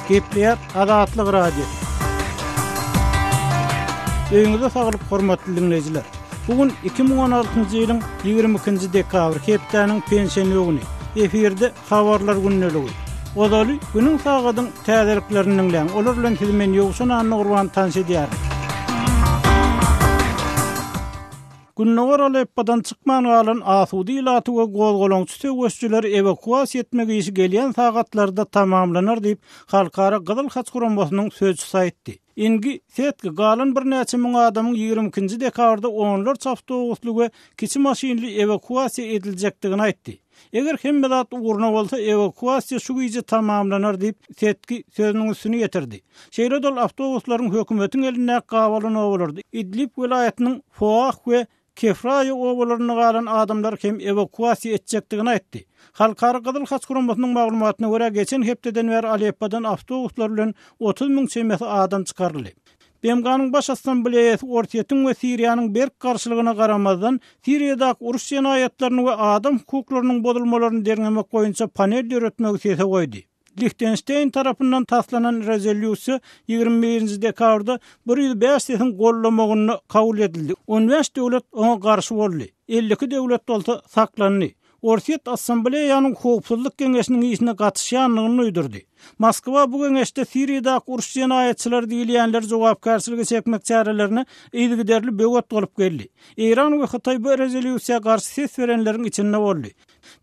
Gepleýär Azatlyk Radio. Öýüňize saglyk hormatly dinleýjiler. Bu gün 2016-njy ýylyň 22-nji dekabr hepdäniň pensiýa güni. Efirde habarlar gündeligi. Ozaly günüň sagadyň täzeliklerini dinleýän. Olar bilen siz men Ýowşan Annagurban tanş edýär. Gündogar Aleppodan çykman galan asuda ilaty we gozgalaňçy söweşijileri ewakuasiýa etmek işi gelýän sagatlarda tamamlanar diýip, Halkara Gyzyl Haç guramasynyň sözçüsi aýtdy. Ingi Setge galan birnäçe müň adamyň ýigrimi ikinji dekabrda onlarça awtobusly we kiçi maşynly ewakuasiýa ediljekdigini aýtdy. Eger hemme zat ugruna bolsa, ewakuasiýa şu gije tamamlanar diýip, Setki sözüniň üstüni ýetirdi. Şeýle-de ol awtobuslaryň hökümetiň elindäki gabalan obalarda, Idlib welaýatynyň Foah we Kefraýa obalarynda galan adamlary hem ewakuasiýa etjekdigini aýtdy. Halkara Gyzyl Haç guramasynyň maglumatyna görä, geçen hepdeden bäri Aleppodan awtobuslar bilen otuz müň çemesi adam çykaryldy. BMG-niň Baş Assambleýasy Orsýetiň we Siriýanyň berk garşylygyna garamazdan, Siriýadaky uruş jenaýatlaryny we adam hukuklarynyň bozulmalaryny derňemek boýunça panel döretmegi sese goýdy. Lihtenşteýn tarapyndan taslanan rezolýusiýa ýigrimi birinji dekabrda bir ýüz bäş sesiň gollamagynda kabul edildi, on bäş döwlet oňa garşy boldy, elli iki döwlet bolsa saklandy. Orsýet Assambleýanyň Howpsuzlyk geňeşiniň işine gatyşýandygyny duýdurdy. Moskwa bu geňeşde Siriýadaky uruş jenaýatçylary diýilýänleri jogapkärçilige çekmek çärelerine yzygiderli böwet bolup geldi. Eýran we Hytaý bu rezolýusiýa garşy ses berenleriň içinde boldy.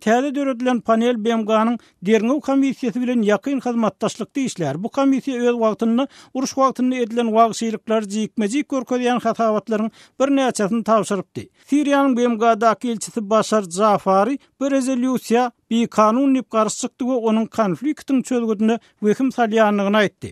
Täze döredilen panel BMG-niň Derňew komissiýasy bilen ýakyn hyzmatdaşlykda işlär. Bu komissiýa öz wagtynda uruş wagtynda edilen wagşylyklary jikme-jik görkezýän hasabatlaryň birnäçesini tabşyrypdy. Siriýanyň BMG-daky ilçisi Başar Jafari bu rezolýusiýa bikanun diýip garşy çykdy we onuň konfliktiň çözgüdine wehim salýandygyny aýtdy.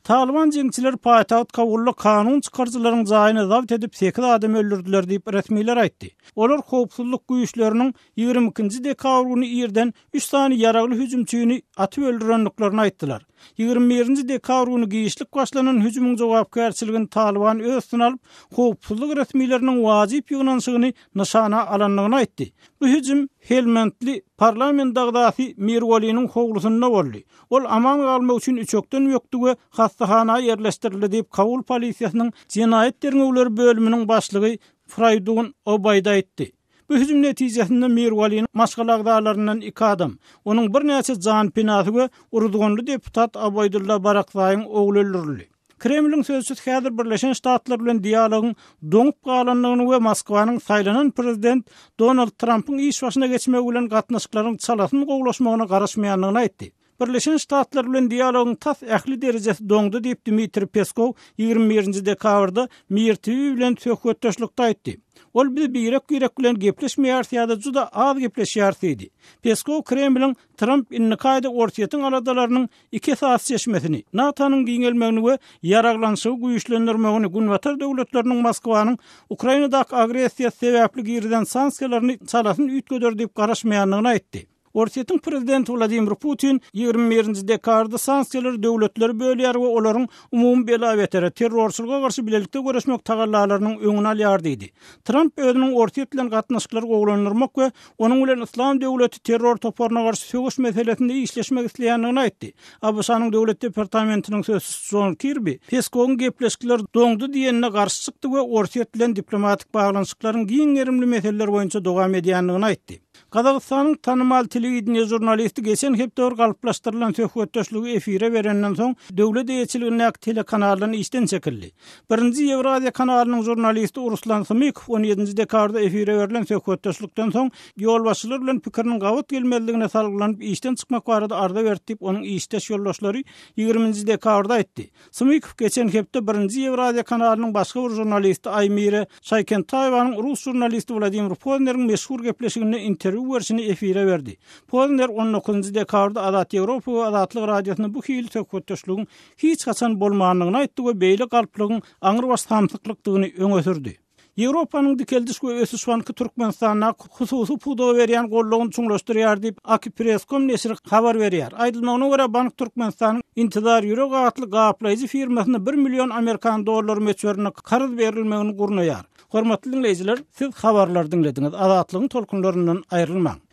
Talyban jeňçileri paýtagt Kabulda kanun çykaryjylaryň jaýyny zabt edip, sekiz adam öldürdiler diýip, resmiler aýtdy. Olar howpsuzlyk güýçleriniň ýigrimi ikinji dekabr güni irden üç sany ýaragly hüjümçini atyp öldürendiklerini aýtdylar. Ýigrimi birinji dekabr güni giçlik başlanan hüjümiň jogapkärçiligini Talyban öz üstüne alyp, howpsuzlyk resmileriniň wajyp ýygnanyşygyny nyşana alandygyny aýtdy. Bu hüjüm helmandly parlament agzasy Mirwaliniň howlusynda boldy. Ol aman galmak üçin üçekden bökdi we hassahana ýerleşdirildi diýip, Kabul polisiýasynyň jenaýat derňewleri bölüminiň başlygy Fraýdun Obaýd aýtdy. Bu hüjüm netijesinde Mirwalynyň maşgala agzalaryndan iki adam, onuň birnäçe janpynasy we uruzganly deputat Abaýdulla Barakzaýyň ogly öldürildi. Kremliň sözçüsi häzir Birleşen Ştatlar bilen dialogyň doňup galandygyny we Moskwanyň saýlanan prezident Donald Trampyň iş başyna geçmegi bilen gatnaşyklaryň çalasyn gowulaşmagyna garaşmaýandygyny aýtdy. Birleşen Ştatlar bilen dialogyň tas ähli derejesi doňdy diýip, Dmitriý Peskow ýigrimi birinji dekabrda Mir TV bilen söhbetdeşlikde aýtdy. Ol biz birek-birek bilen gepleşmeýäris ýa-da juda az gepleşýäris diýdi. Peskow Kremliň Tramp indiki aýda Orsýetiň aladalarynyň iki esasy çeşmesini, NATO-nyň giňelmegini we ýaraglanyşygy güýçlendirmegini, Günbatar döwletleriniň Moskwanyň Ukrainadaky agressiýasy sebäpli girizen sanksiýalaryny çalasyn üýtgeder diýip garaşmaýandygyny aýtdy. Orsýetiň prezidenti Wladimir Putin ýigrimi birinji dekabrda sanksiýalary döwletlere bölýär we olaryň umumy bela-betere, terrorçylyga garşy bilelikde göreşmek tagallalarynyň öňüni alýar diýdi. Tramp özüniň Orsýet bilen gatnaşyklary gowulandyrmak we onuň bilen Yslam döwleti terror toparyna garşy söweş meselesinde işleşmek isleýändigini aýtdy. ABŞ-nyň Döwlet departamentiniň sözçüsi Jon Kirbi Peskowyň gepleşikler doňdy diýenine garşy çykdy we Orsýet bilen diplomatik baglanyşyklaryň giň gerimli meseleler boýunça dowam edýändigini aýtdy. Gazagystanyň tanymal telewideniýe žurnalisti geçen hepde bir galplaşdyrylan söhbetdeşligi efire berenden soň, döwlet eýeçiligindäki telekanaldan işden çekildi. Birinji Ýewraziýa kanalynyň žurnalisti Ruslan Hmykow on ýedinji dekabrda efire berlen söhbetdeşlikden soň, ýolbaşçylar bilen pikiriniň gabat gelmezligine salgylanyp işden çykmak barada arza berdi diýip, onuň işdeş ýoldaşlary ýigriminji dekabrda aýtdy. Smykow geçen hepde Birinji Ýewraziýa kanalynyň başga bir žurnalisti Aýmire Şaýkentaýewanyň rus žurnalisti Wladimir Pozneriň meşhur gepleşiginde interwýu berşini efire berdi. Pozner on dokuzynjy dekabrda Azat Ýewropa we Azatlyk Radiosynda bu hili söhbetdeşligiň hiç haçan bolmandygyny aýtdy we beýle galplygyň aňrybaş samsyklykdygyny öňe sürdi. Ýewropanyň dikeldiş we ösüş banky Türkmenistana hususy pudaga berýän goldawyny çuňlaşdyrýar diýip, Akipresscom neşiri habar berýär. Aýdylmagyna görä, bank Türkmenistanyň Intizar Ýürek atly gaplaýjy firmasyna bir million amerikan dollary möçberinde karz berilmegini gurnaýar. Hormatly diňleýjiler, siz habarlary diňlediňiz. Azatlygyň tolkunlaryndan aýrylmaň!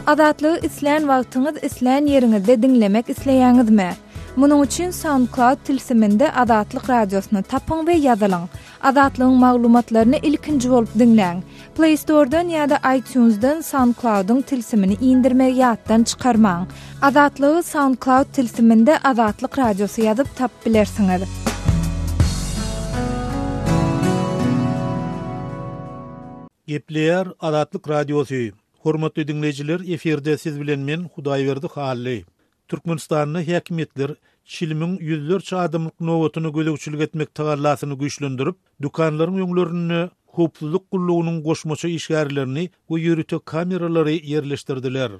Azatlygy islän wagtyňyz islän ýeriňizde diňlemek isleýäňizmi? Munuň üçin SoundCloud tilsiminde Azatlyk Radiosyny tapyň we ýazylyň. Azatlygyň maglumatlaryny ilkinji bolup diňläň. Play Store-dan ýa-da iTunes-dan SoundCloud-yň tilsimini indirmegi ýatdan çykarmaň. Azatlygy SoundCloud tilsiminde Azatlyk Radiosy ýazyp tapyp bilersiňiz. Gepleýär Azatlyk Radiosy. Hormatly diňleýjiler, efirde siz bilen men Hudaýberdi Hally. Türkmenistanda häkimiýetler çilimiň ýüzlerçe adamlyk nobatyna gözegçilik etmek tagallasyny güýçlendirip, dükanlaryň öňlerinde howpsuzlyk gullugynyň goşmaça işgärlerini we ýörite kameralary ýerleşdirdiler.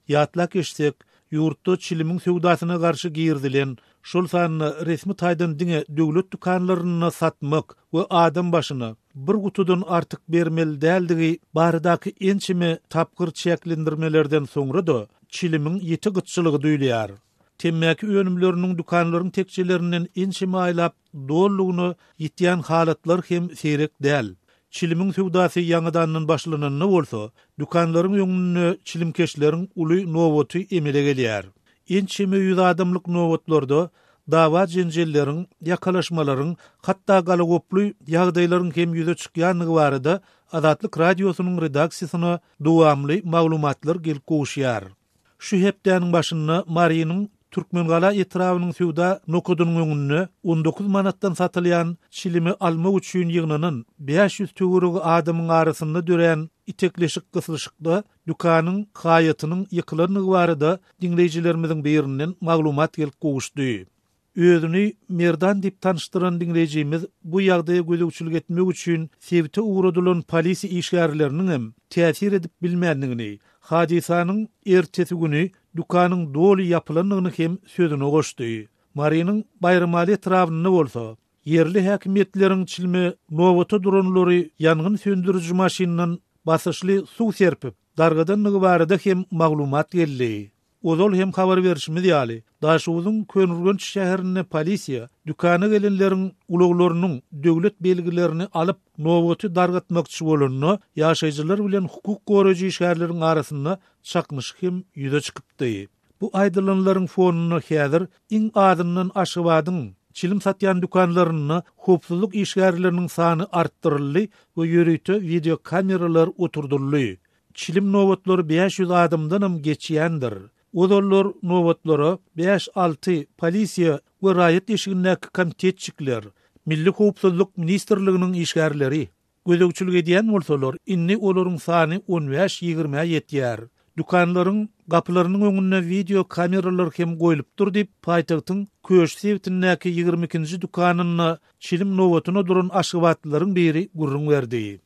Ýatlap geçsek, ýurtda çilimiň söwdasyna garşy girizilen, şol sanda resmi taýdan diňe döwlet dükanlarynda satmak we adam başyna bir gutudan artyk bermeli däldigi baradaky ençeme tapgyr çäklendirmelerden soňra-da çilimiň ýiti gytçylygy duýulýar. Temmäki önümleriniň dükanlaryň tekjelerinden ençeme aýlap Dolulygyna ýitýän halatlar hem seýrek däl. Çilimiň söwdasy ýaňadandan başlananda bolsa, dükanlaryň öňünde çilimkeşleriň uly nobaty emele gelýär. Ençeme ýüz adamlyk nobatlarda dawa-jenjelleriň, ýakalaşmalaryň, hatda galagoply ýagdaýlaryň hem ýüze çykýandygy barada Azatlyk Radiosynyň redaksiýasyna dowamly maglumatlar gelip gowuşýar. Şu hepdäniň başynda Marynyň Türkmengala etrabynyň söwda nokadynyň öňünde on dokuz manatdan satylýan çilimi almak üçin ýygnanan bäş ýüz töweregi adamyň arasynda dörän itekleşik-gyslyşykda dükanyň haýatynyň ýykylandygy barada diňleýjilerimiziň birinden maglumat gelip gowuşdy. Özüni Merdan diýip tanyşdyran diňleýjimiz bu ýagdaýa gözegçilik etmek üçin sebite ugradylan polisiýa işgärleriniň hem täsir edip bilmändigini, hadysanyň ertesi güni dükanyň doly ýapylandygyny hem sözüne goşdy. Marynyň Baýramaly etrabynda bolsa, ýerli häkimiýetleriň çilme nobata duranlary ýangyn söndüriji maşyndan basyşly suw serpip, dargadandygy barada hem maglumat geldi. Ozal hem habar berşimiz ýaly, Daşoguzyň Köneürgenç şäherinde polisiýa dükana gelenleriň ulaglarynyň döwlet belgilerini alyp, nobaty dargatmakçy bolanda, ýaşaýjylar bilen hukuk goraýjy işgärleriň arasynda çaknyşyk hem ýüze çykypdy. Bu aýdylanlaryň fonunda häzir iň azyndan Aşgabadyň çilim satýan dükanlarynda howpsuzlyk işgärleriniň sany artdyryldy we ýörite wideokameralar oturdyldy. Çilim nobatlary bäş ýüz adamdanam geçýändir. Ozallar nobatlara bäş-alty polisiýa we raýat eşigindäki komitetçikler, Milli howpsuzlyk ministrliginiň işgärleri, Gözegçilik edýän bolsalar, indi olaryň sany on bäş, ýigrimä ýetýär. Dükanlaryň gapylarynyň öňünde wideo kameralar hem goýlupdyr diýip, paýtagtyň Köş sebitindäki ýigrimi ikinji dükanynda çilim nobatyna duran aşgabatlylaryň biri gürrüň berdi.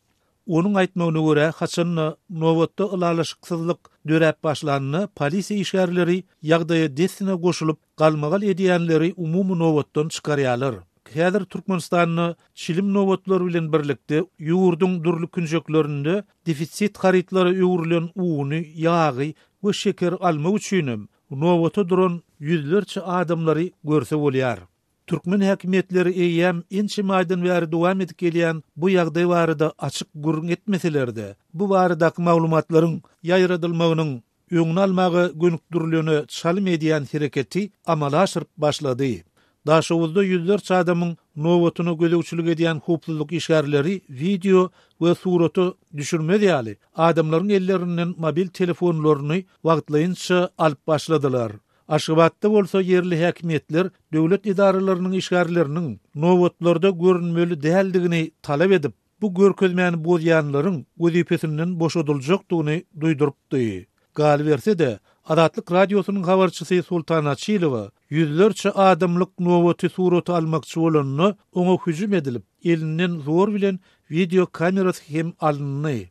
Onuň aýtmagyna görä, haçan-da nobatda ylalaşyksyzlyk döräp başlanda, polisiýa işgärleri ýagdaýa dessine goşulyp, Galmagal edýänleri umumy nobatdan çykarýarlar. Häzir Türkmenistanda çilim nobatlar bilen birlikde ýurduň dürli künjeklerinde defisit harytlara öwrülen uny, ýagy we şekeri almak üçinem nobata duran ýüzlerçe adamlary görse bolýar. Türkmen häkimiýetleri eýýäm ençeme aýdan bäri dowam edip gelýän bu ýagdaý barada açyk gürrüň etmeseler-de, bu baradaky maglumatlaryň ýaýradylmagynyň öňüni almaga gönükdirilene çalym edýän hereketi amala aşyryp başlady. Daşoguzda ýüzlerçe adamyň nobatyna gözegçilik edýän howpsuzlyk işgärleri wideo we surata düşürmez ýaly, adamlaryň ellerinden mobil telefonlaryny wagtlaýynça alyp başladylar. Aşgabatda bolsa ýerli häkimiýetler döwlet edaralarynyň işgärleriniň nobatlarda görünmeli däldigini talap edip, bu görkezmäni bozýanlaryň wezipesinden boşadyljakdygyny duýdurypdy. Galyberse-de, Azatlyk Radiosynyň habarçysy Sultan Açylowa ýüzlerçe adamlyk nobaty surata almakçy bolanda, oňa hüjüm edilip, elinden zor bilen wideokamerasy hem alyndy.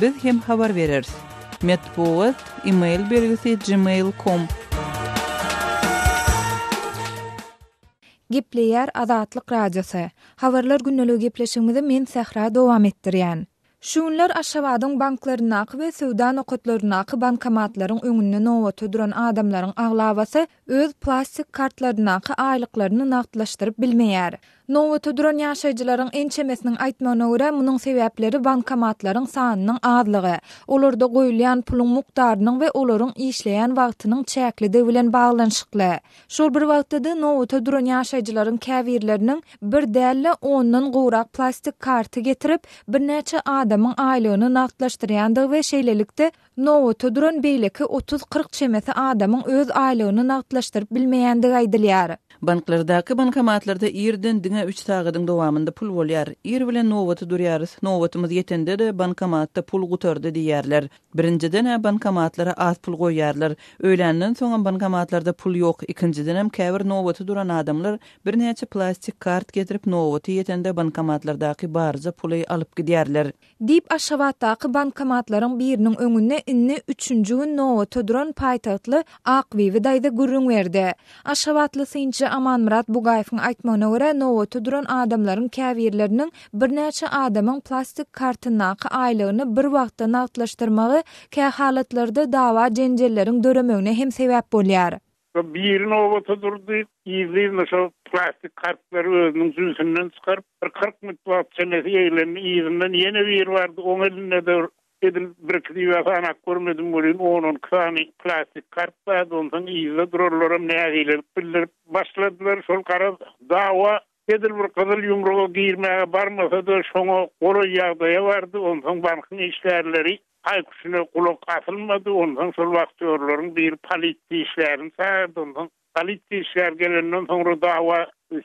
Biz hem habar bereris. Metbugat, email belgisi, gmail com. Gepleýär Azatlyk Radiosy. Habarlar gündeliği gepleşigimizi men Sähra dowam etdirýän. Şu günler Aşgabadyň banklaryndaky we söwda nokatlaryndaky bankomatlaryň öňünde nobata duran adamlaryň aglabasy öz plastik kartlaryndaky aýlyklaryny nagtlaşdyryp bilmeýär. Nobata duran ýaşaýjylaryň ençemesiniň aýtmagyna görä, munuň sebäpleri bankomatlaryň sanynyň azlygy, olarda goýulýan puluň mukdarynyň we olaryň işleýän wagtynyň çäklidigi bilen baglanyşykly. Şol bir wagtda-da, nobata duran ýaşaýjylaryň käbirleriniň bir däl-de, ondan gowrak plastik karty getirip, birnäçe adamyň aýlygyny nagtlaşdyrýandygy we şeýlelikde, Nobata duran beýleki otuz-kyrk çemesi adamyň öz aýlygyny nagtlaşdyryp bilmeýändigi aýdylýar. Banklardaky bankomatlarda irden diňe üç sagadyň dowamynda pul bolýar. Ir bilen nobata durýarys, nobatymyz ýetende-de bankomatda pul gutardy diýýärler. Birinjiden-ä bankomatlara az pul goýýarlar. Öýländen soňam bankomatlarda pul ýok. Ikinjidenem käbir nobata duran adamlar birnäçe plastik kart getirip nobaty ýetende bankomatlardaky barja puly alyp gidýärler. Diýip, Aşgabatdaky bankomatlaryň biriniň öňünde indi üçünji gün nobata duran paýtagtly Akbibi daýza gürrüň berdi. Aşgabatly synçy Amanmyrat Bugaýewiň aýtmagyna görä, nobata duran adamlaryň käbirleriniň birnäçe adamyň plastik kartyndaky aýlygyny bir wagtda nagtlaşdyrmagy kähalatlarda dawa-jenjelleriň döremegine hem sebäp bolýar. Şo biri nobata durdy, yzly-yzyna şo plastik kartlary özüniň jübüsinden çykaryp, bir kyrk minut wagt çemesi eglendi, yzyndan ýene biri bardy, oň elinde-de edil birki düýä sanap görmedim welin, on-on iki sany plastik kart bardy, onsoň yzda durarlaram nägilelik bildirip başladylar, şol garaz dawa Edil bir gyzyl ýumruga girmäge barmasa-da, şoňa golaý ýagdaýa bardy. Onsoň bankyň işgärleri haý-küşüne gulak asylmady. Onsoň şol wachtiýorlaryň biri polisiýa işgärini çagyrdy. Onsoň polisiýa işgäri gelenden soňra dawa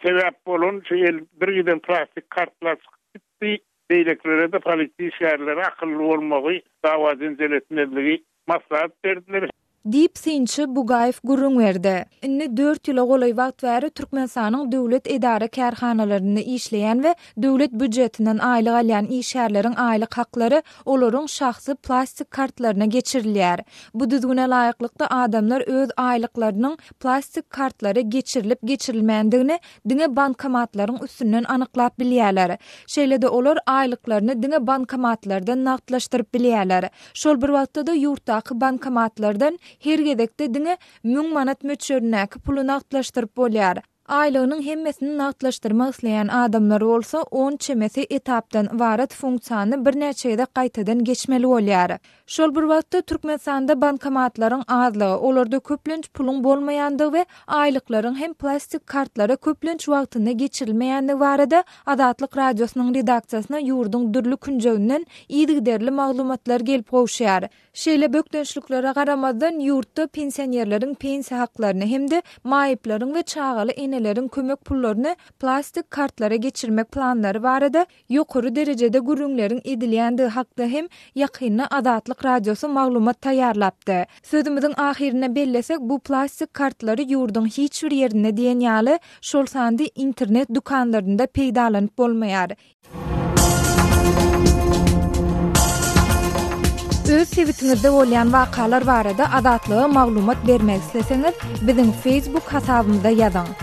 sebäp bolan şu el bir giden plastik kartlar çykyp gitdi. Beýlekilere-de polisiýa işgärleri akylly bolmagy, dawa-jenjel etmezligi maslahat berdiler. Diýip, synçy Bugaýew gürrüň berdi. Indi dört ýyla golaý wagt bäri Türkmenistanyň döwlet edara-kärhanalarynda işleýän we döwlet býujetinden aýlyk alýan işgärleriň aýlyk haklary olaryň şahsy plastik kartlaryna geçirilýär. Bu düzgüne laýyklykda adamlar öz aýlyklarynyň plastik kartlara geçirilip-geçirilmändigini diňe bankomatlaryň üstünden anyklap bilýärler. Şeýle-de olar aýlyklaryny diňe bankomatlardan nagtlaşdyryp bilýärler. Şol bir wagtda-da ýurtdaky bankomatlardan her gezekde diňe müň manat möçberindäki puly nagtlaşdyryp bolýar. Aýlygynyň hemmesini nagtlaşdyrmak isleýän adamlar bolsa on çemesi etapdan ybarat funksiýany birnäçe gezek gaýtadan geçmeli bolýar. Şol bir wagtda, Türkmenistanda bankomatlaryň azlygy, olarda köplenç puluň bolmaýandygy we aýlyklaryň hem plastik kartlara köplenç wagtynda geçirilmeýändigi barada Azatlyk Radiosynyň redaksiýasyna ýurduň dürli künjeginden yzygiderli maglumatlar gelip gowşýar. Şeýle bökdençliklere garamazdan, ýurtda pensionerleriň pensiýa haklaryny hem-de maýyplaryň we çagaly eneleriň kömek pullaryny plastik kartlara geçirmek planlary barada ýokary derejede gürrüňleriň edilýändigi hakda hem ýakynda Azatlyk Radiosy maglumat taýýarlapdy. Sözümiziň ahyrynda bellesek, bu plastik kartlary ýurduň hiç bir ýerinde diýen ýaly, şol sanda internet dükanlarynda peýdalanyp bolmaýar. Öz sebitiňizde bolýan wakalar barada Azatlyga maglumat bermek isleseňiz, biziň Facebook hasabymyza ýazyň.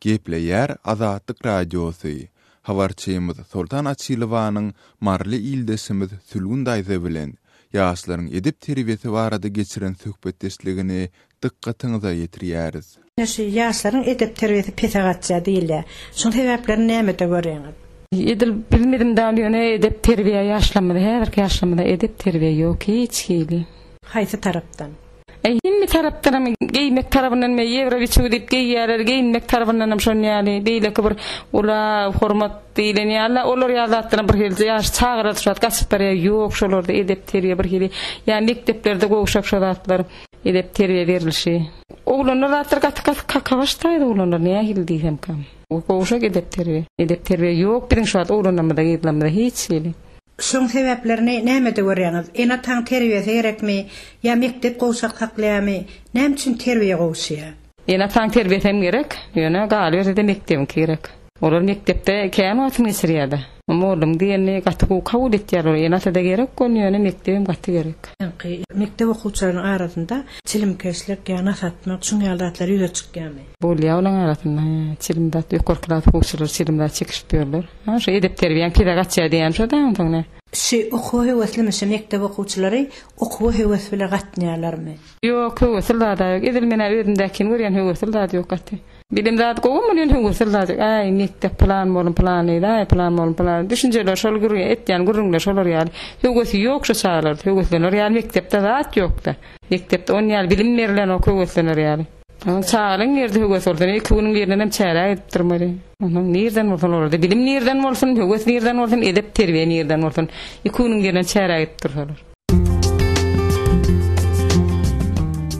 Gepleýär Azatlyk Radiosy. Habarçymyz Soltan Açylowanyň maryly ildeşimiz Sülgün daýza bilen ýaşlaryň edep-terbiýesi barada geçiren söhbetdeşligini dykgatyňyza ýetirýäris. Ine şu ýaşlaryň edep-terbiýesi pese gaçýar diýilýär. Şuň sebäplerini nämede görýäňiz? Edil biziň bizimdal ýöne edep-terbiýe ýaşlarymyza häzirki ýaşlarymyza edep-terbiýe ýok hiç hili. Haýsy tarapdan? E, hindi tarapdanam geýmek tarabyndan me ýewrowiçew diýip geýýärler, geýinmek tarabyndanam şon ýaly, beýleki bir ula hormat diýlen ýaly, olar ýaly zatlaram bir hili ýaş çagalar şu wagt gaçyp barýar, ýok şolarda edep-terbiýe bir hili, ýa mekdeplerde gowşak şo zatlar, edep-terbiýe berilişi. Oglanlar zatlar gaty gaty kakabaş taýda oglanlar nähili diýsemkä. Gowşak edep-terbiýe. Edep-terbiýe ýok biziň şu wagt oglanlarymyzda, gyzlarymyzda hiç hili. Şoň sebäplerini nämede görýäňiz? Ene taň terbiýesi gerekmi? Ýa mekdep gowşak saklaýamy? Näme üçin terbiýe gowşaýa? Ene taň terbiýesi hem gerek, ýöne galyberse-de mekdebiňki gerek. Olar mekdepde kän wagtyny geçirýärde. Mollaň diýenini gaty gowy kabul etýärler. Ene ata-da gerek gol, ýöne mekdep hem gaty gerek. Öňki mekdep okuwçylarynyň arasynda çilimkeşlik ýa nas atmak şuň ýaly zatlar ýüze çykýamy? Bolýar olaň arasynda, çilim zat, ýokary klas okuwçylary çilim zat çekişip ýörler. Maňa şu edep-terbiýäň pese gaçýar diýýän şo daň soň ne? Şu okuwa höweslimi şu mekdep okuwçylary okuwa höwes bile gatnaýarlarmy. Ýok höwesli zada ýok edil menä özümdäkini görýän höwesli zat ýok gaty. Bilim zat gowumy ýöne höwesli zat ýok äý mekdep pylan molum pylan diýdi äý pylan molum pylan düşünjeler şol gürrüň etýän gürrüňler şolar ýaly höwesi ýok şu çagalarda höweslener ýaly mekdepde zat ýokda mekdepde on ýaly bilim berilenok höweslener ýaly. Onuň çagalyň ýerde höwes bolsa, iki günüň ýerinden hem çäräk edip durmaly. Onuň nirden bolsun olurdy. Bilim nirden bolsun, höwes nirden bolsun, edep terbiýe nirden bolsun. Iki günüň ýerinden çäräk edip dursalar.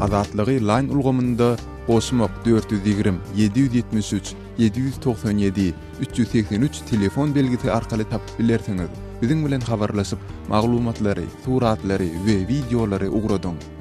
Azatlygy Line ulgamynda goşmak dört ýüz ýigrimi, ýedi ýüz ýetmiş üç, ýedi ýüz togsan ýedi, üç ýüz segsen üç telefon belgisi arkaly tapyp bilersiňiz. Biziň bilen habarlaşyp, maglumatlary, suratlary we wideolary ugradyň.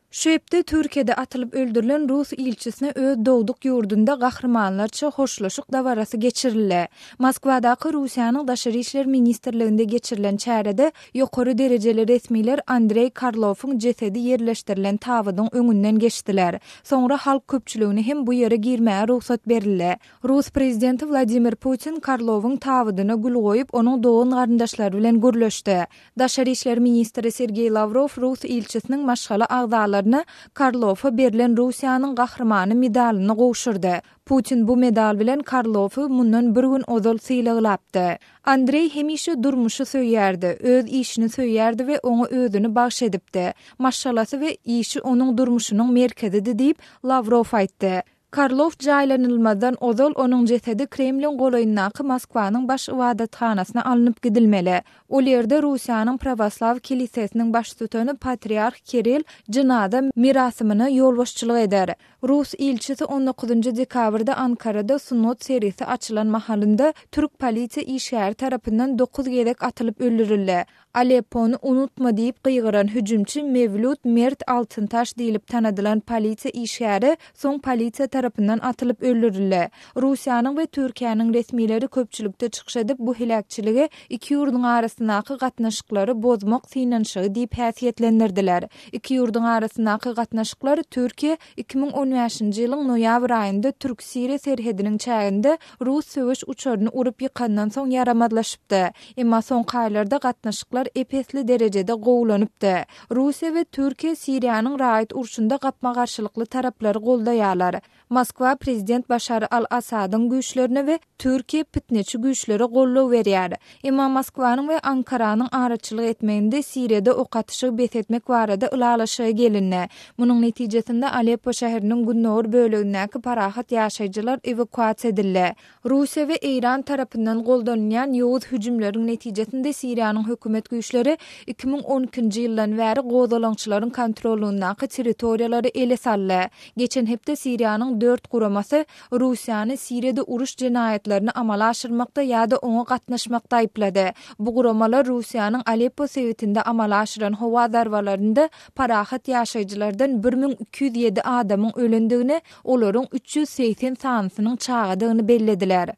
Şu hepde Türkiýede atylyp öldürilen rus ilçisine öz dogduk ýurdunda gahrymanlarça hoşlaşyk dabarasy geçirildi. Moskwadaky Russiýanyň Daşary işler ministrliginde geçirilen çärede ýokary derejeli resmiler Andreý Karlowyň jesedi ýerleşdirilen tabydyň öňünden geçdiler. Soňra halk köpçüligine hem bu ýere girmäge rugsat berildi. Rus prezidenti Wladimir Putin Karlowyň tabydyna gül goýup, onuň dogan-garyndaşlary bilen gürleşdi. Daşary işler ministri Sergeý Lawrow rus ilçisiniň maşgala agzalaryna Karlowa berlen Russiýanyň Gahrymany medalyny gowşurdy. Putin bu medal bilen Karlowy mundan bir gün ozal sylaglapdy. Andreý hemişe durmuşy söýýärdi, öz işini söýýärdi we oňa özüni bagyş edipdi. Maşgalasy we işi onuň durmuşynyň merkezidi diýip, Lawrow aýtdy. Karlow jaýlanylmazdan ozal onuň jesedi Kremliň golaýyndaky Moskwanyň baş ybadathanasyna alnyp gidilmeli. Ol ýerde Russiýanyň prawoslaw kilisesiniň baştutany patriarh Kirill jynaza merasymyna ýolbaşçylyk eder. Rus ilçisi on dokuzynjy dekabrda Ankarada sungat sergisi açylan mahalynda türk polisiýa işgäri tarapyndan dokuz gezek atylyp öldürildi. Aleppony unutma diýip gygyran hüjümçi Mewlud Mert Altyntaş diýlip tanadylan polisiýa işgäri soň polisiýa tarapyndan atylyp öldürildi. Russiýanyň we Türkiýäniň resmileri köpçülikde çykyş edip bu heläkçiligi iki ýurduň arasyndaky gatnaşyklary bozmak synanyşygy diýip häsiýetlendirdiler. Iki ýurduň arasyndaky gatnaşyklar Türkiýe Iki müň on bäşinji ýylyň noýabr aýynda türk Siriýa serhediniň çäginde rus söweş uçaryny urup ýykandan soň ýaramazlaşypdy. Emma soňky aýlarda gatnaşyklar ep-esli derejede gowulanypdy. Russiýa we Türkiýe Siriýanyň raýat urşunda gapma-garşylykly taraplary goldaýarlar. Moskwa prezident Başar al-Assadyň güýçlerine we Türkiýe pitneçi güýçlere goldaw berýär. Emma Moskwanyň we Ankaranyň araçylyk etmeginde Siriýada ok atyşygy bes etmek barada ylalaşyga gelindi. Munuň netijesinde Aleppo şäheriniň gündogar bölegindäki parahat ýaşaýjylar ewakuasiýa edildi. Russiýa we Eýran tarapyndan goldanylýan ýowuz hüjümleriň netijesinde Siriýanyň hökümet güýçleri iki müň on ikinji ýyldan bäri gozgalaňçylaryň kontrollygyndaky territoriýalary ele saldy. Geçen hepde Siriýanyň dört guramasy Russiýany Siriýada uruş jenaýatlaryny amala aşyrmakda ýa-da oňa gatnaşmakda aýyplady. Bu guramalar Russiýanyň Aleppo sebitinde amala aşyran howa zarbalarynda parahat ýaşaýjylardan bir müň iki ýüz ýedi adamyň ölendigini, olaryň üç ýüz segsen sanysynyň çagadygyny bellediler.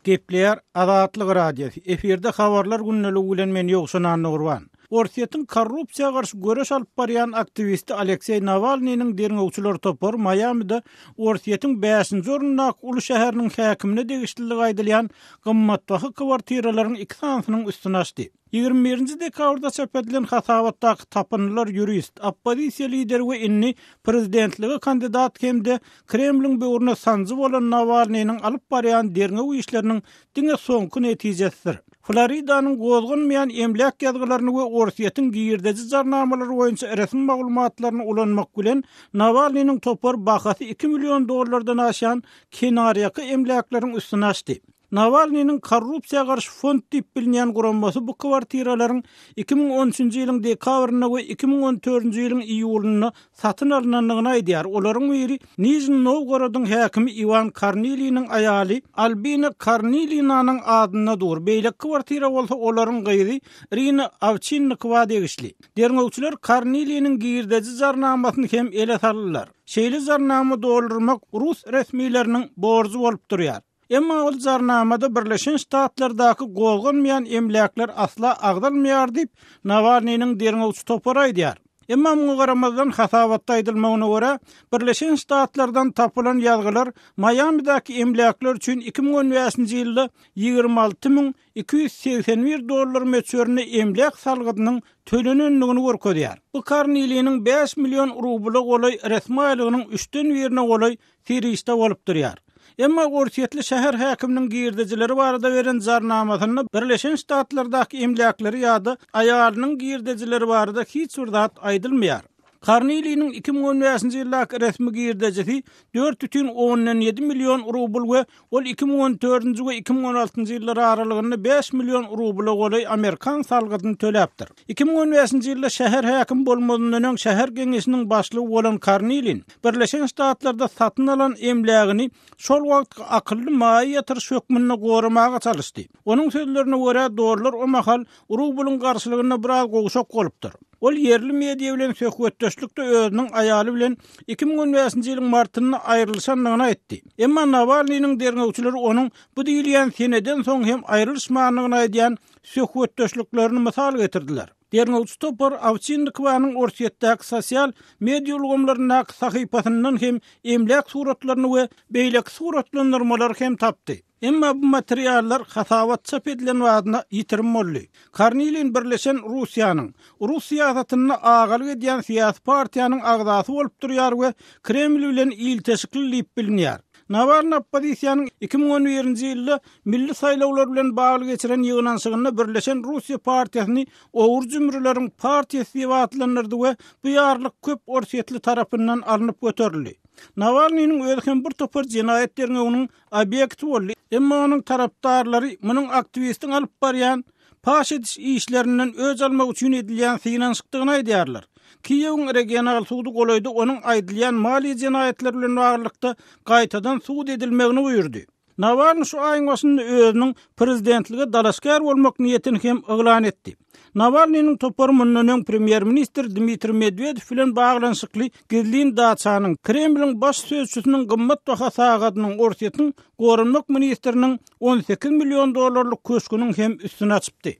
Gepleýär Azatlyk Radiosy, efirde Habarlar gündeliği bilen men Ýowşan Annagurban. Orsýetiň korrupsiýa garşy göreş alyp barýan aktiwisti Alekseý Nawalnynyň derňewçiler topary Maýamide Orsýetiň bäşinji orundaky uly şäheriniň häkimine degişlidigi aýdylýan gymmatbaha kwartiralaryň iki sanysynyň üstüni açdy. Ýigrimi birinji dekabrda çap edilen hasabatdaky tapyndylar ýurist, oppozisiýa lideri we indi prezidentlige kandidat hem-de Kremliň böwrüne sanjy bolan Nawalnynyň alyp barýan derňew işleriniň diňe soňky netijesidir. Floridanyň gozganmaýan emläk ýazgylaryny we Orsýetiň girdeji jarnamalary boýunça resmi maglumatlaryny ulanmak bilen, Nawalnynyň topar bahasy iki million dollardan aşýan kenarýaka emläkleriň üstüne açdy. Nawalnynyň Korrupsiýa garşy fond diýip bilinýän guramasy bu kwartiralaryň iki müň on üçünji ýylyň dekabrynda we iki müň on dördünji ýylyň iýulynda satyn alnandygyny aýdýar, olaryň biri Nižni Nowgorodyň häkimi Iwan Korniliniň aýaly Albina Kornilinanyň adyna dur, beýleki kwartira bolsa olaryň gyzy Irina Awçinnikowa degişli. Derňewçiler Korniliniň girdeji jarnamasyny hem ele saldylar. Şeýle jarnama doldurmak rus resmileriniň borjy bolup durýar. Emma ol jarnamada Birleşen Ştatlardaky gozganmaýan emläkler asla agzalmaýar diýip, Nawalnynyň derňewçi topary aýdýar. Emma muňa garamazdan, hasabatda aýdylmagyna görä, Birleşen Ştatlardan tapylan ýazgylar Maýamidäki emläkler üçin iki müň on bäşinji ýylda ýigrimi alty müň iki ýüz segsen bir dollar möçberinde emläk salgydynyň tölenendigini görkezýär. Bu Karniliniň bäş million rubla golaý resmi aýlygynyň üçden birine golaý Serişde bolup durýar. Emma orsýetli şäher häkiminiň girdejileri barada beren jarnamasynda Birleşen Ştatlardaky emläkleri ýa-da aýalynyň girdejileri barada hiç bir zat aýdylmaýar. Korniliniň iki müň on bäşinji ýyldaky resmi girdejisi dört bütin ondan ýedi million rubl we Ol iki müň on dördünji we iki müň on altynjy ýyllar aralygynda bäş million rubla golaý amerikan salgydyny töläpdir. Iki müň on bäşinji ýylda şäher häkim bolmazyndan öň şäher geňeşiniň başlygy bolan Karnilin Birleşen Ştatlarda satyn alan emlägini şol wagtky akylly maýa ýatyryş hökmünde goramaga çalyşdy. Onuň sözlerine görä, dollar o mahal Urug bulyň garşylygynda biraz gowşak bolupdyr. Ol ýerli media bilen söhbetdeşlikde özüniň aýaly bilen iki müň on bäşinji ýylyň martynda aýrylyşandygyny aýtdy. Emma Nawalnynyň derňewçileri onuň bu diýilýän seneden soň hem aýrylyşmandygyny aýdýan söhbetdeşliklerini mysal getirdiler. Derňewçi topar Owçinnikowanyň Orsýetdäki sosial media ulgamlaryndaky sahypasyndan hem emläk suratlaryny we beýleki suratlandyrmalary hem tapdy. Emma bu materiallar hasabat çap edilen badyna ýitirim boldy. Kornilin Birleşen Russiýanyň, rus syýasatynda agalyk edýän syýasy partiýanyň agzasy bolup durýar we Kreml bilen ilteşikli diýip bilinýär. Nawalny oppozisiýanyň iki müň on birinji ýylda milli saýlawlar bilen bagly geçiren ýygnanyşygynda Birleşen Russiýa partiýasyny Ogry jümrüleriň partiýasy diýip atlandyrdy we bu ýarlyk köp orsýetli tarapyndan alnyp göterildi. Nawalnynyň özi hem bir topar jenaýat derňewiniň obýekti boldy, emma onuň tarapdarlary munuň aktiwistiň alyp barýan paş ediş işlerinden öç almak üçin edilýän synanyşykdygyny aýdýarlar. Kiýewiň regional sudy golaýda onuň aýdylýan maliýe jenaýatlary bilen baglylykda gaýtadan sud edilmegini buýurdy. Nawalny şu aýyň başynda özüniň prezidentlige dalaşgär bolmak niýetini hem yglan etdi. Nawalnynyň topary mundan öň premýer-ministr Dmitriý Medwedew bilen baglanyşykly gizlin daçanyň, Kremliň baş sözçüsiniň gymmatbaha sagadynyň, Orsýetiň Goranmak ministriniň on sekiz million dollarlyk köşgüniň hem üstüni açypdy.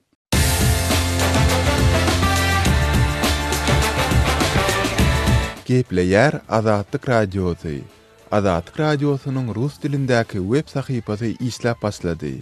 Gepleýär Azatlyk Radiosy, Azatlyk Radiosynyň rus dilindäki web sahypasy işläp başlady.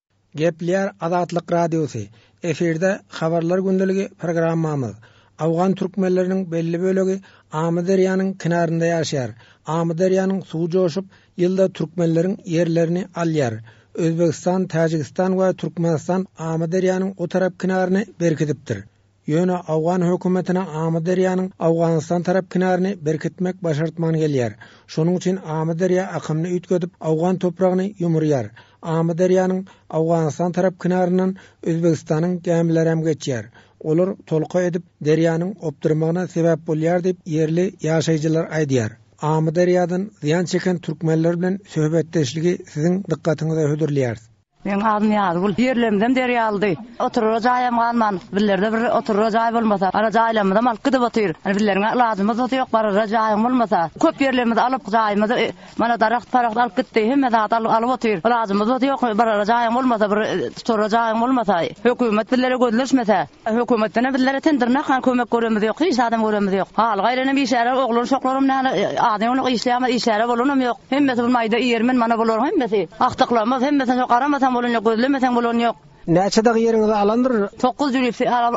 Geplär Azatlyk Radiosy, Efirde Habarlar gündeligi programmamyz. Awgan türkmenleriniň belli bölegi Amyderýanyň kenarynda ýaşaýar. Amyderýanyň suwy joşup, ýylda türkmenleriň ýerlerini alýar. Özbegistan, Täjigistan we Türkmenistan Amyderýanyň o tarap kenaryny berkidipdir. Ýöne Owgan hökümetine Amyderýanyň Owganystan tarap kenaryny berkitmek başartman gelýär. Şonuň üçin Amyderýa akymyny üýtgedip, Owgan topragyny ýumurýar. Amyderýanyň Owganystan tarap kenaryndan Özbegistanyň gämilerem geçýär. Olar tolka edip, derýanyň opdyrmagyna sebäp bolýar diýip, ýerli ýaşaýjylar aýdýar. Amyderýadan zyýan çeken türkmenler bilen söhbetdeşligi siziň dykgatyňyza hödürleýäris. Meniň adym Nyýazgül. Ýerlerimizem derýalydy. Oturara jaýam galman, bizlerde bir oturara jaý bolmasa, ara jaýlarymyzam alyp gidip otyr. Indi bizleriň-ä ilajymyz-da ýok, barara jaýyň bolmasa. Köp ýerlerimizi alyp, jaýymyzy mana daragt-paragt alyp gitdi, hemme zady alyp otyr. Ilajymyz-da ýok, barara jaýyň bolmasa, bir tuturara jaýyň bolmasa, hökümet bizlere gözleşmese. Hökümetdenem bizlere ten dyrnak han kömek göremiz ýok hiç zadam göremiz ýok haly gaýranam işlärer oglan şoklaram nane az ýoňluk işleýämiz işläre bolanam ýok hemmesi bu maýda ýermen mana bularyň hemmesi agtyklymyz hemmesini şo garamasaň bolan ýok gözlemeseň bolan ýok. Näçe dag ýeriňizi alandyr? Toguz jülüp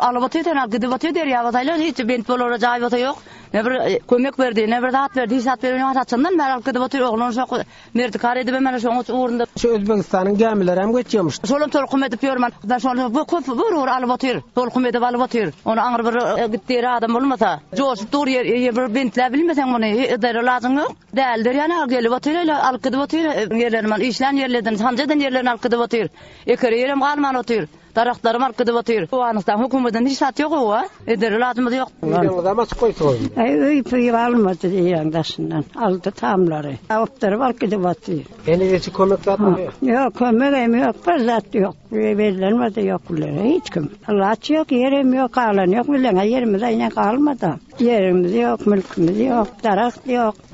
alyp otyr sena gidip otyr derýa bolsa aýlan hiç bent bolara jaý bolsa ýok ne bir kömek berdi ne bir zat berdi hiç zat berenok saçyndan bäri alyp gidip otyr oglan şok Merdigar edibem mana şoň uç ugrunda. Şu Özbegistanyň gämileri hem geçýärmiş. Şolam tolkun edip ýör man. Da şol bu köp bir ur alyp otyr. Tolkun edip alyp otyr. Ony aňry bir e, gitdi ýeri adam bolmasa. Joşup dur ýer e, bir bentläp bilmeseň muny e, edere lazyň ýok. Däldir ýana gelip otyr ele alyp gidip otyr. Ýerlerini man işlän ýerlerden, sanjadan ýerlerini alyp gidip otyr. Ekere ýerem galman otyr. Daragtlarym aryp gidip otyr. Owganystan hökümetden hiç zat ýok ow a. Eder iladymyz ýok. Ýüregiňizem açyk goýsaň. Äý öý puýup almady diýýäň daşyndan. Aldy tamlary. Awupdyryp alyp gidip otyr. Heniz hiç kömek zatym ýok. Ýok kömegem ýok bir zat ýok. Bellenmedi ýok bilen hiç kim. Alaç ýok ýerem ýok galan ýok bileňe ýerimiz aýna galmada. Ýerimiz ýok mülkimiz ýok daragt ýok.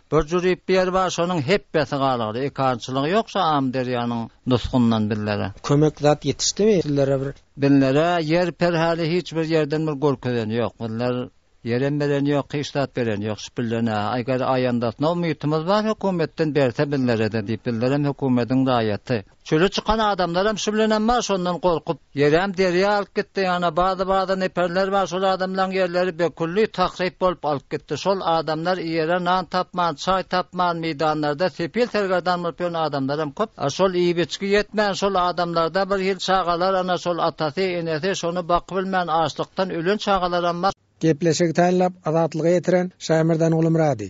Bir jüri ber bar şonuň hepbesi galgydy ekançylygy ýok şo amyderýanyň nusgundan birlere. Kömek zat ýetişdimi sizlere bir. Birlere ýer per häli hiç bir ýerden bir görkezeni ýok birler ýerem bereni ýok hiç zat bereni ýok şpillene eger aýandasyna umytymyz bar hökümetden berse birlerede diýip birlerem hökümediň raýaty. Çöle çykan adamlaram şu bilenem bar şondan gorkup. Ýeräm derýa alyp gitdi ýana bazy bazy neperler bar şol adamlaň ýerleri be külli tahryp bolup alyp gitdi şol adamlar iýere nan tapman çaý tapman meýdanlarda sepil sergerdan bolup ýören adamlaram köp a şol iýip içgi ýetmän şol adamlarda bir hil çagalar ana şol atasy enesi şony bakybilmän açlykdan ölen çagalaram bar. Gepleşigi taýynlap Azatlyga ýetiren Şaýmyrdan Gulumyrady.